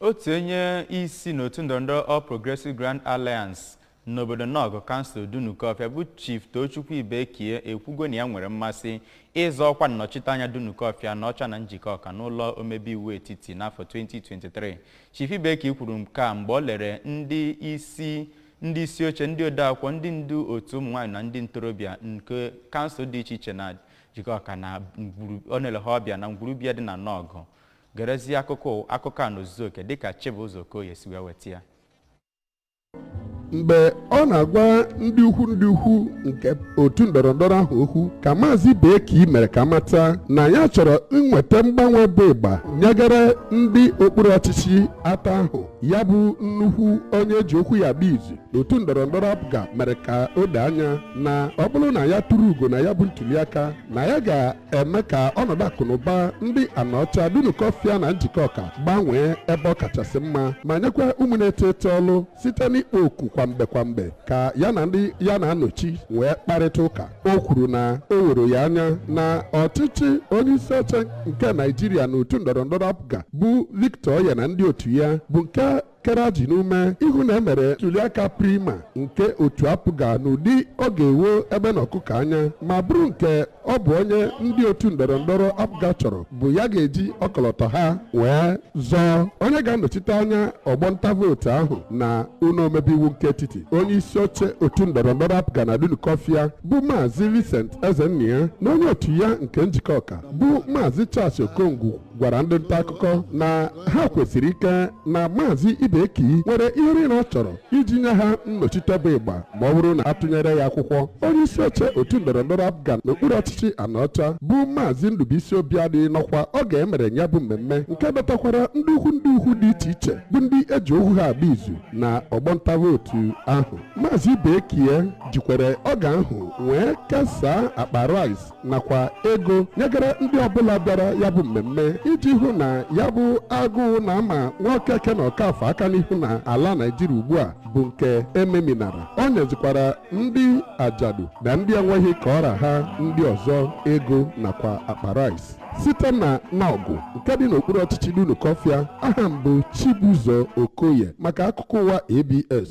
otu onye isi n'otu ndọrọndọrọ All Progressive Grand Alliance n'obodo Nọgụ kansụl Dunukọfịa bụ Chief Tochukwu Ibekie ekwugo na ya nwere mmasị ịzọ ọkwa nnọchiteanya Dunukọfịa Anaọcha na Njikọka n'ụlọ omebe iwu etiti n'afọ 2023 Chief Ibekie kwuru nke a mgbe o lere ndị isi oche ndị odeakwụkwọ ndị ndu otu ụmụnwaanyị na ndị ntorobịa nke kansụl dị iche iche na Njikọka na ọ na-ele ha ọbịa na ngwuru be ya dị na Nọgụ gerezie akụkọ akụkọ a n'ozuzu oke dịka Chibụzọ Okoye si wee weta ya mgbe ọ na-agwa ndị ukwu ndị ukwu nke otu ndọrọ ndọrọ ahụ okwu ka maazị Ibekie mere ka a mata na ya chọrọ inweta mgbanwe bụ ịgba nyegara ndị okpuru ọchịchị atọ ahụ ya bụ nnukwu onye eji okwu ya agba izu otu ndọrọndọrọ apga mere ka o doo anya na ọ bụrụ na ya tụrụ ugo na ya bụ ntuliaka na ya ga-eme ka ọnọdụ akụnụba ndị anaọcha dunukọfịa na njikọka gbanwee ebe ọ kachasị mma ma nyekwa ụmụ na-eto eto ọlụ site n'ikpo oku kwamgbe kwamgbe ka ya na ndị ya na-anọchi wee kparịta ụka o kwuru na o woro ya anya na ọchịchị onye isi oche nke naijiria n'otu ndọrọndọrọ apga bụ victor oye na ndị otu ya bụ nke kere ajị n'ume ịhụ na emere ntuliaka primary nke otu APGA n'ụdị ọ ga-ewo egbe na ọkụkọ anya ma bụrụ nke ọ bụ onye ndị otu ndọrọ ndọrọ APGA chọrọ bụ ya ga-eji ọkọlọtọ ha wee zọọ onye ga-anọchite anya ọgbọ nta vootu ahụ na ụlọ omebe iwu nke etiti onye isi oche otu ndọrọ ndọrọ APGA na Dunukọfịa bụ maazị Vincent Ezennia na onye otu ya nke Njikọka bụ maazị Charles Okongwu gwara ndị nta akụkọ na ha kwesiri ike na maazị Ibekie nwere ihe niile ọ chọrọ iji nye ha nnọchite bụ ịgba ma ọ bụrụ na a tụnyere ya akwụkwọ onye isi oche otu ndọrọndọrọ APGA n'okpuru ọchịchị Anaọcha bụ maazị Ndubuisi Obiadị nọkwa oge emere ya bụ mmemme nke dọtakwara ndị ukwu ndị ukwu dị iche iche bụ ndị eji okwu ha agba izu na ọgbọ nta vootu ahụ maazị Ibekie jikwere oge ahụ wee kesaa akpa rice nakwa ego nyegara ndị ọbụla bịara ya bụ mmemme iji hụ na ya bụ agụụ na-ama Nwokeke na Ọkafọ aka n'ihu na ala naijiria ugbu a bụ nke ememinara o nyezikwara ndị ajadu na ndị enweghị ka ọ ra ha ndị ọzọ ego nakwa akpa rice site na Nọgụ nke dị n'okpuru ọchịchị Dunukọfịa aha m bụ Chibụzọ Okoye maka akụkọ ụwa ABS